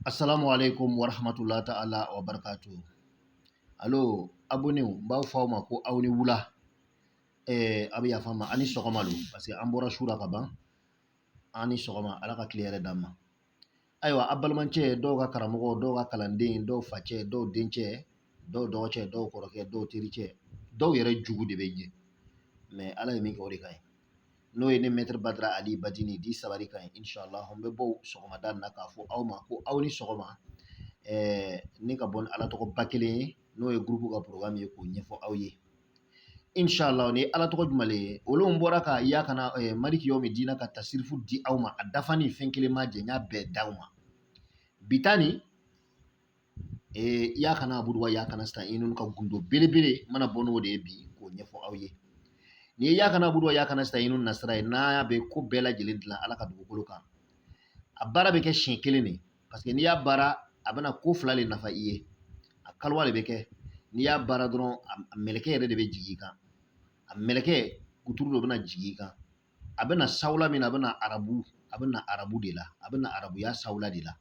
Assalamu alaikum wa rahmatullahi ta'ala wa barkatu. Alo, abonnés n b'a fɔ aw ma ko aw ni wula. Eh, a bɛ yafa n ma, a ni sɔgɔma don, parce que an bɔra su la ka ban. Aw ni sɔgɔma, Ala ka tile hɛrɛ d'an ma. Ayiwa, a balimacɛ, dɔw ka karamɔgɔ, dɔw ka kalanden, dɔw facɛ, dɔw dencɛ, dɔw dɔgɔcɛ, dɔw kɔrɔkɛ, dɔw tericɛ, dɔw yɛrɛ jugu de bɛ n ye. Mais Ala ye min kɛ o de ka ɲi. n'o ye ne mɛtiri badara ali badini dit sabari ka ɲi inshallah n bɛ bɔ sɔgɔmada na k'a fɔ aw ma ko aw ni sɔgɔma ɛɛ ne ka bɔ ni ala tɔgɔ ba kelen ye n'o ye gurupu ka porogramu ye k'o ɲɛfɔ aw ye inshallah ni ala tɔgɔ jumɛn le ye olu bɔra ka ya kana ɛɛ maliki yawmi dina ka tasirifu di aw ma a dafanin fɛn kelen ma jɛ n y'a bɛɛ d'aw ma bi ta nin Ee iyaka na'abudu wa iyaka nasta'inu ka gundo belebele mana bɔ n'o de ye bi k'o ɲɛfɔ aw ye n'o ye iyaka na'abudu wa iyaka nasta'inu nasira ye n'a bɛ ko bɛɛ lajɛlen dilan ala ka dugukolo kan a baara bɛ kɛ siɲɛ kelen de parce que n'i y'a baara a bɛna ko fila de nafa i ye a kaliwa de bɛ kɛ n'i y'a baara dɔrɔn a mɛlɛkɛ yɛrɛ de bɛ jigin i kan a mɛlɛkɛ kuturu dɔ bɛna jigin i kan a bɛ na sawula min na a bɛ na arabu a bɛ na arabu de la a bɛ na arabuya sawula de la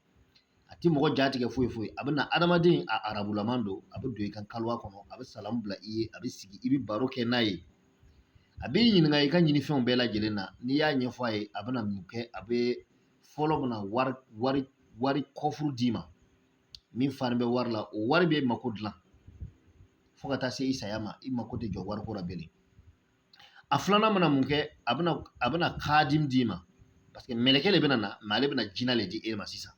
a tɛ mɔgɔ jatigɛ foyi foyi a bɛ na adamaden a arabulama don a bɛ don i ka kaliwa kɔnɔ a bɛ salamu bila i ye a bɛ sigi i bɛ baro kɛ n'a ye a b'i ɲininka i ka ɲinifɛnw bɛɛ lajɛlen na n'i y'a ɲɛfɔ a ye a bɛna mun kɛ a bɛ fɔlɔ bɛna wari wari wari kɔfuru d'i ma min fanin bɛ wari la o wari b'i mako dilan fo ka taa se i saya ma i mako tɛ jɔ wariko la bilen a filanan mana mun kɛ a bɛna a bɛna kadimu d'i ma paseke mɛlɛkɛ de bɛna na mɛ ale bɛna jina de di e ma sisan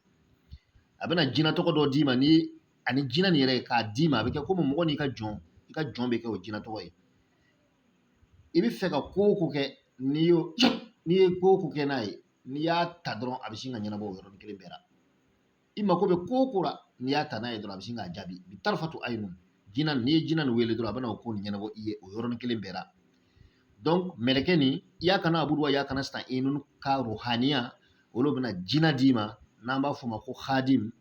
a bɛna jina tɔgɔ dɔ d'i ma ni ani jina nin yɛrɛ k'a d'i ma a bɛ kɛ komi mɔgɔ n'i ka jɔn i ka jɔn bɛ kɛ o jina tɔgɔ ye i bɛ fɛ ka ko o ko kɛ n'i y'o n'i ye ko o ko kɛ n'a ye n'i y'a ta dɔrɔn a bɛ sin ka ɲɛnabɔ o yɔrɔnin kelen bɛɛ la i mako bɛ ko o ko la n'i y'a ta n'a ye dɔrɔn a bɛ sin k'a jaabi bi tarifatu ayinu jina n'i ye jina nin wele dɔrɔn a bɛna o ko nin ɲɛnabɔ i ye o yɔrɔnin kelen bɛɛ la donc mɛlɛkɛ nin iyaka na'abudu wa iyaka nasta'inu ka ruhaniya olu bɛna jina d'i ma n'an b'a fɔ o ma ko hadim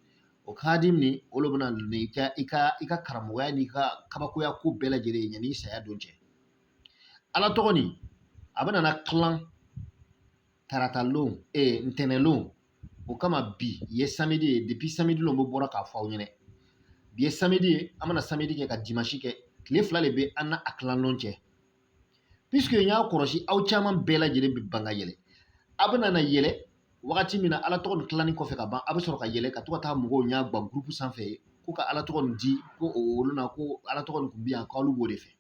o hadim nin olu bɛ na n'i ka i ka i ka karamɔgɔya n'i ka kabakoya ko bɛɛ lajɛlen ye yanni saya don cɛ ala tɔgɔ nin a bɛna na tilan taratalon ee ntɛnɛnlon o kama bi ye samedi ye depi samedi lon bɛ bɔra k'a fɔ aw ɲɛna bi ye samedi ye an bɛna samedi kɛ ka dimanche kɛ tile fila de bɛ an n'a tilanlon cɛ puisque n y'a kɔlɔsi aw caman bɛɛ lajɛlen bɛ ban ka yɛlɛ a bɛna na yɛlɛ wagati min na ala tɔgɔ nin tilanni kɔfɛ ka ban a bɛ sɔrɔ ka yɛlɛ ka to ka taa mɔgɔw ɲɛgba gurupu sanfɛ ko ka ala tɔgɔ nin di ko olu na ko ala tɔgɔ nin tun bɛ yan k'alu b'o de fɛ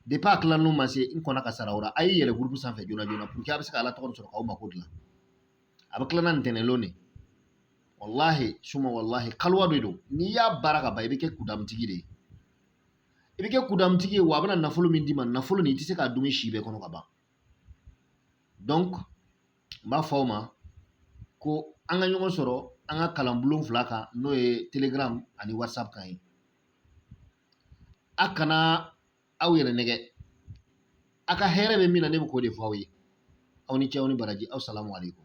depuis a tilalon ma se n kɔnna ka sara o la a y'i yɛlɛ groupe sanfɛ joona joona pour que a bɛ se ka ala tɔgɔ sɔrɔ k'aw mako dilan a bɛ tila ntɛnɛnlon de walahi suma walahi kaliwa de don n'i y'a baara ka ban i bɛ kɛ kudamutigi de ye i bɛ kɛ kudamutigi ye wa a bɛna nafolo min d'i ma nafolo nin i tɛ se k'a dun si bɛɛ kɔnɔ ka ban donc n b'a fɔ aw ma ko an ka ɲɔgɔn sɔrɔ an ka kalanbulon fila kan n'o ye telegram ani whatsapp kan ye a kana aw yɛrɛ nɛgɛ a ka hɛrɛ bɛ min na ne bɛ k'o de fɔ aw ye aw ni ce aw ni baraji aw salamu aleyikum